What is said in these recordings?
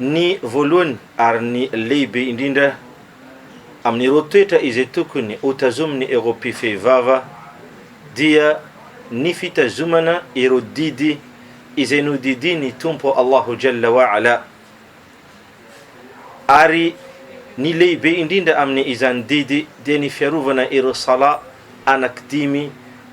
Ny voalohany ary ny lehibe indrindra amin'ireo toetra izay tokony hotazomin'ny Eropy fehivava dia ny fitazomana ireo didy izay nodidian'ny Tompo Allahu Jalla wa Ala. Ary ny lehibe indrindra amin'ny izany didy dia ny fiarovana ireo Salat anaky dimy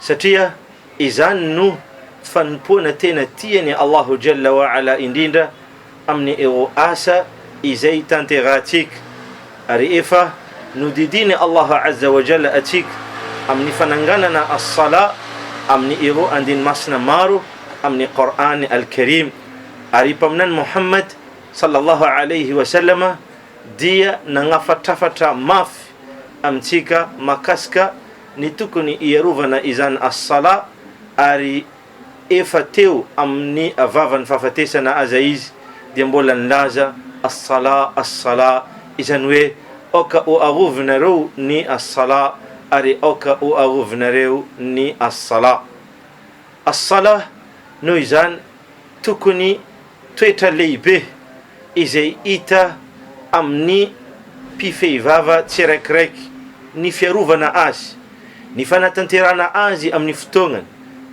satria izany no fanompoana tena tian'i Allahu Jalla wa Ala indrindra amin'ny ireo asa izay tanterahantsika ary efa nodidian'i Allahu Azza wa Jalla antsika amin'ny fananganana As-Salah amin'ny ireo andiny masina maro amin'ny Qur'an Al-Karim ary i Mpaminany Muhammad Sallallahu Alayhi wa Sallam dia nagnafatrafatra mafy amintsika mahakasika ny tokony hiarovana izany As-Salah ary efa teo amin'ny vavan'ny fahafatesana aza izy dia mbola nilaza As-Salah, As-Salah, izany hoe aoka ho arovinareo ny As-Salah ary aoka ho arovinareo ny As-Salah. As-Salah, noho izany, Tokony toetra lehibe izay hita amin'ny mpifehivava tsiraikiraiky ny fiarovana azy, ny fanatanterahana azy amin'ny fotoagnany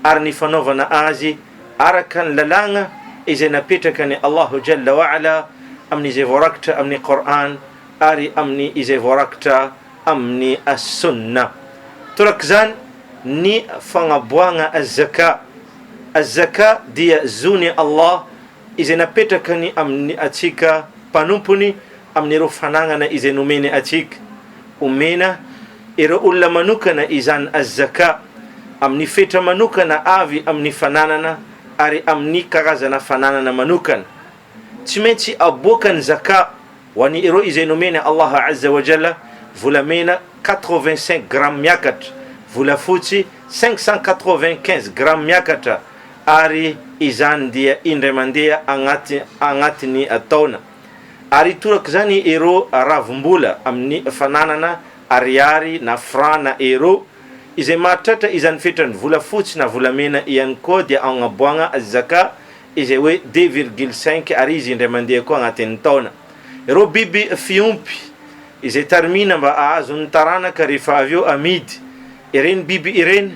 ary ny fanaovana azy araka ny lalàgna izay napetrakan'i Allahu Jalla wa Ala amin'izay voarakitra amin'ny Qour'an ary amin'ny izay voarakitra amin'ny As-Sunnah. Torak'izany ny fagnaboagna Az-Zakah. Az-Zakah dia zon'i Allah izay napetrakany amin'ny antsika mpanompony amin'ireo fanagnana izay nomeny antsika. Omena ireo olona manokana izany Az-Zakah amin'ny fetra manokana avy amin'ny fananana ary amin'ny karazana fananana manokana. Tsy maintsy aboaka ny Zaka ho an'i ireo izay nomen'i Allah Azza wa Jalla volamena quatre-vingt-cinq grammes miakatra, volafotsy cinq cent quatre-vingt-quinze grammes miakatra, ary izany dia indray mandeha agnaty agnatin'ny taona. Ary itorak'izany ireo ravim-bola amin'ny fananana ariary na franc na euro, izay mahatratra izany fetran'ny volafotsy na volamena ihany koa dia agnaboagna az-Zaka, izay hoe deux virgule cinq ary izy indray mandeha koa agnatin'ny taona. Ireo biby fiompy izay tarimina mba hahazo ny taranaka rehefa avy eo amidy ireny biby ireny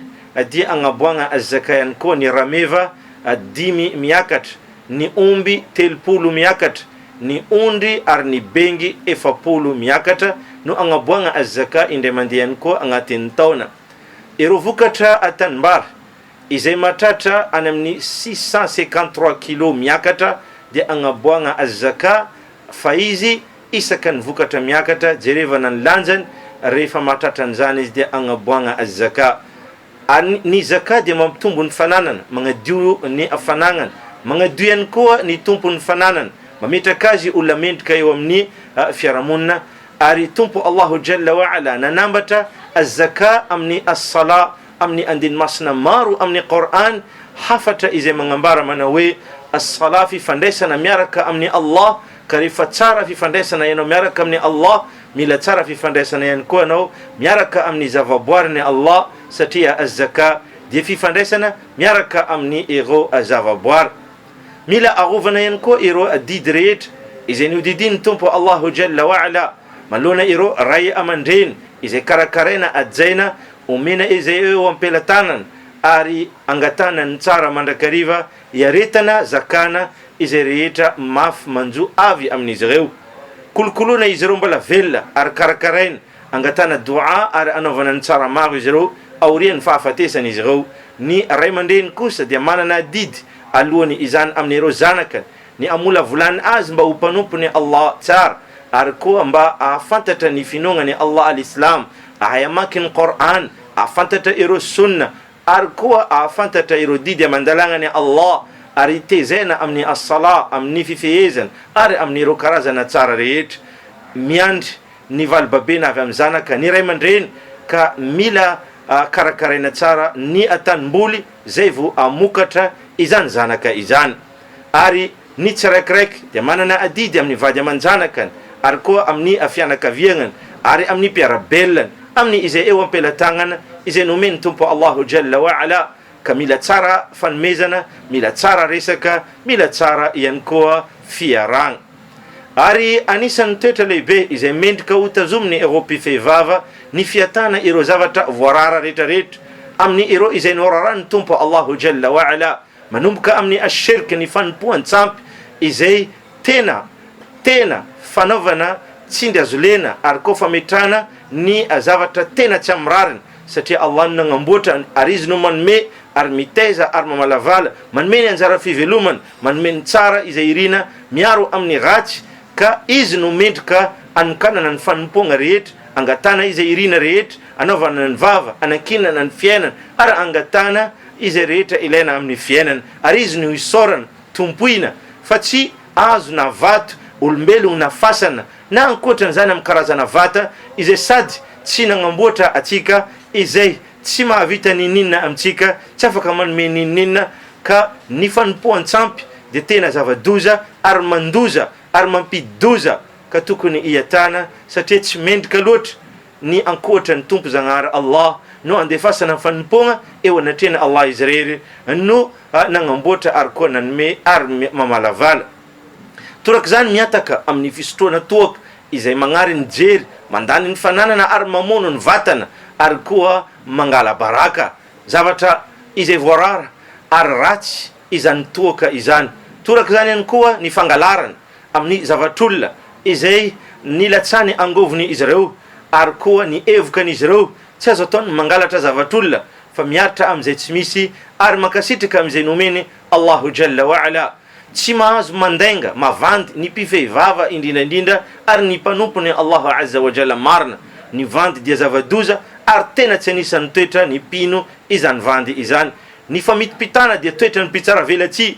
dia agnaboagna zakay ihany koa ny rameva dimy miakatra, ny omby telopolo miakatra, ny ondry ary ny bengy efapolo miakatra no agnaboagna zaka indray mandeha ihany koa agnatin'ny taona. Ireo vokatra tanimbary. Izay mahatratra any amin'ny six cent cinquante trois kilos miakatra dia agnaboagna azzakah fa izy isaka ny vokatra miakatra jerevana ny lanjany rehefa mahatratra an'izany izy dia agnaboagna azzakah. Ary ny zakah dia mampitombo ny fananana, magnadio ny fanagnana, magnadio ihany koa ny tompon'ny fananana, mametraka azy olona mendrika eo amin'ny fiarahamonina, ary Tompo Allahu Jalla wa Ala nanambatra azzakah amin'ny as-salah, amin'ny andiny masina maro amin'ny Qour'an hafatra izay magnambara manao hoe, As-Salah fifandraisana miaraka amin'i Allah ka rehefa tsara fifandraisana ianao miaraka amin'i Allah mila tsara fifandraisana ihany koa ianao miaraka amin'ny zavaboarin'i Allah satria Az-Zakah dia fifandraisana miaraka amin'ny ireo zavaboary. Mila arovana ihany koa ireo adidy rehetra izay nihodidian'ny Tompo Allahu Jalla wa Ala manoloana ireo ray aman-dreny izay karakaraina hajaina Omena izay eo am-pelatanana ary angatahana ny tsara mandrakariva iaretana zakana izay rehetra mafy manjo avy amin'izy ireo. Kolokoloina izy ireo mbola velona ary karakaraina, angatahana do'a ary anaovana ny tsara maro izy ireo aorian'ny fahafatesan'izy ireo. Ny ray aman-dreny kosa dia manana adidy aloany izany amin'ireo zanakany. Ny hamolavolany azy mba ho mpanompony Allah tsara, ary koa mba ahafantatra ny finoagnany Allah al-Islam, ahay amaky ny Qour'an, ahafantatra ireo Sunnah, ary koa ahafantatra ireo didy aman-dalagnany Allah, ary hitezena amin'ny As-Salah, amin'ny fifehezana, ary amin'ireo karazana tsara rehetra. Miandry ny vali-babena avy amin'ny zanaka ny ray aman-dreny, ka mila karakaraina tsara ny atanim-boly zay vo hamokatra izany zanaka izany. ary ny tsiraikiraiky dia manana adidy amin'ny vady aman-janakany ary koa amin'ny fianakaviagnany ary amin'ny mpiara-belany amin'ny izay eo am-pelatagnana izay nomen'ny Tompo Allahu Jalla wa Ala ka mila tsara fanomezana, mila tsara resaka, mila tsara ihany koa fiarahagna. Ary anisan'ny toetra lehibe izay mendrika ho tazomin'ny ireo mpifehivava ny fiatana ireo zavatra voarara retraretra amin'ny ireo izay noraran'ny Tompo Allahu Jalla wa Ala. Manomboka amin'ny asherika ny fanompoan-tsampy izay tena tena fanaovana tsindry azo lena ary koa fametrahana ny zavatra tena tsy amin'ny rariny satria Allah no nagnamboatra ary Izy no manome ary mitaiza ary mamalavala, manome ny anjara fivelomana, manome ny tsara izay irina, miaro amin'ny ratsy ka Izy no mendrika anokanana ny fanompoagna rehetra, angatana izay irina rehetra, Anaovana ny vava, anankinana ny fiainana, ary angatahana izay rehetra ilaina amin'ny fiainana, ary Izy no isaorana, tompoina, fa tsy hazo na vato, olombelogno na fasana, na ankoatran'izany amin'ny karazana vata izay sady tsy nagnamboatra antsika, izay tsy mahavita n'inon'inona amintsika, tsy afaka manome n'inon'inona, ka ny fanompoan-tsampy dia tena zava-doza ary mandoza ary mampidi-doza, ka tokony hiatana, satria tsy mendrika loatra. Ny ankoatra ny Tompo Zagnahary Allah no andefasana ny fanompoagna eo anatrehan'i Allah Izy Irery no nagnamboatra ary koa nanome ary mamalavala. Torak'izany mihataka amin'ny fisotroana toaka izay magnary ny jery, mandany ny fananana ary mamono ny vatana ary koa mangala baraka, zavatra izay voarara ary ratsy izany toaka izany. Torak'izany ihany koa ny fangalarana. amin'ny zavatr'olona izay nilatsany angovony izy ireo ary koa ny evokan'izy ireo, tsy azo atao ny mangalatra zavatr'olona fa miaritra amin'izay tsy misy ary mankasitraka amin'izay nomeny Allahu Jalla wa Ala, tsy mahazo mandainga, mavandy, ny mpifehy vava indrindra indrindra ary ny mpanompony Allahu Azza wa Jalla marina, ny vandy dia zava-doza ary tena tsy anisan'ny toetra ny mpino izany vandy izany, ny famitipitana dia toetran'ny mpitsaravelatsihy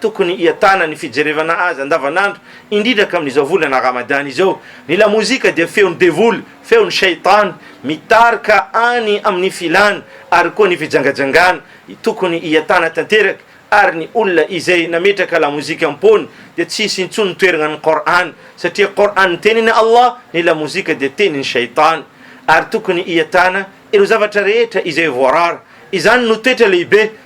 Tokony hiatana ny fijerevana azy andavanandro, indrindra ka amin'izao volana Ramadany izao. Ny lamozika dia feon'ny devoly, feon'ny shaitan, mitarika any amin'ny filana ary koa ny fijangajangana. Tokony hiatana tanteraka ary ny olona izay nametraka lamozika am-poany dia tsy hisy intsony toerana ny Qour'an, satria Qour'an tenin'i Allah, ny lamozika dia tenin'ny shaitan. Ary tokony hiatana ireo zavatra rehetra izay voarara. Izany no toetra lehibe.